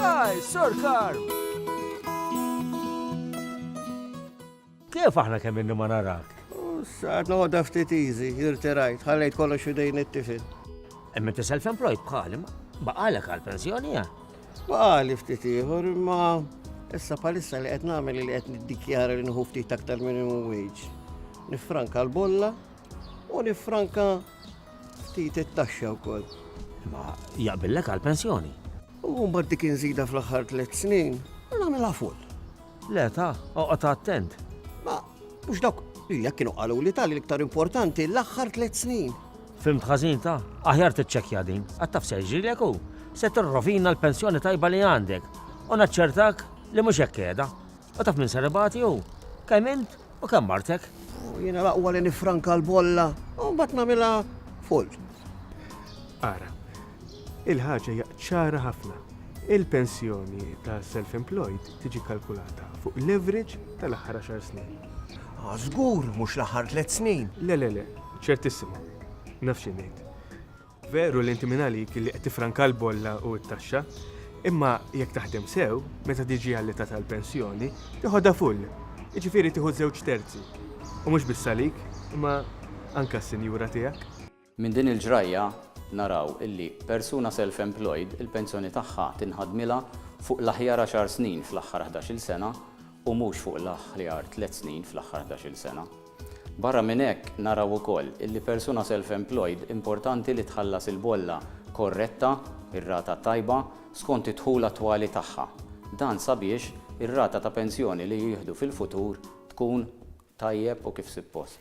Hi, Sir Carl! Kif aħna kemm inni ma narak? Saħt noqda ftit iżi, irterajt, ħallejt kollox idejn it-tifin. Imma ti self-employed bħali, baqalek għal-pensjoni ja? Baqali ftit ieħor, imma issa palissa li qed nagħmel li qed niddikjara li nħu ftit aktar minimum wage. Nifranka l-bolla U niffranka ftit it-taxxa wkoll. Imma jaqbillek għall-pensjoni. U mbagħad dik inżida fl-aħħar tliet snin, nagħmilha full. Le ta, oqgħod attent. Ma, mhux dawk li jekk kienu qalu li tal iktar importanti l-aħħar tliet snin. Fimt ħażin ta', aħjar tiċċekkja din, għad taf seġġilek u se tirrovina l-pensjoni tajba li għandek u naċċertak li mhux hekk qiegħda. U taf min ser ibati hu? Kemm int u kemm martek. U jiena l-aqwa li nifranka l-bolla u mbagħad nagħmilha full. Ara, il-ħaġa hija ċara ħafna. Il-pensjoni ta' self-employed tiġi kalkulata fuq l-average tal-aħħar għaxar snin. Ah, żgur, mhux l-aħħar tliet snin. Le, le, le, ċertissimu. Naf xi ngħid. Veru li inti mingħalik li qed tiffranka l-bolla u t-taxxa, imma jekk taħdem sew, meta tiġi għall-età tal-pensjoni, tiħodha full, jiġifieri tieħu żewġ terzi. U mhux biss għalik, imma anke għas-sinjura tiegħek. Minn din il-ġrajja naraw illi persuna self-employed il-pensjoni tagħha tinħadmilha fuq l-aħjar għaxar snin fl-aħħar ħdax-il sena u mhux fuq l-aħjar tliet snin fl-aħħar ħdax-il sena. Barra minn hekk, naraw ukoll li persuna self-employed importanti li tħallas il-bolla korretta, ir-rata tajba, skont id-dħul attwali tagħha. Dan sabiex ir-rata ta' pensjoni li jieħdu fil-futur tkun tajjeb u kif suppost.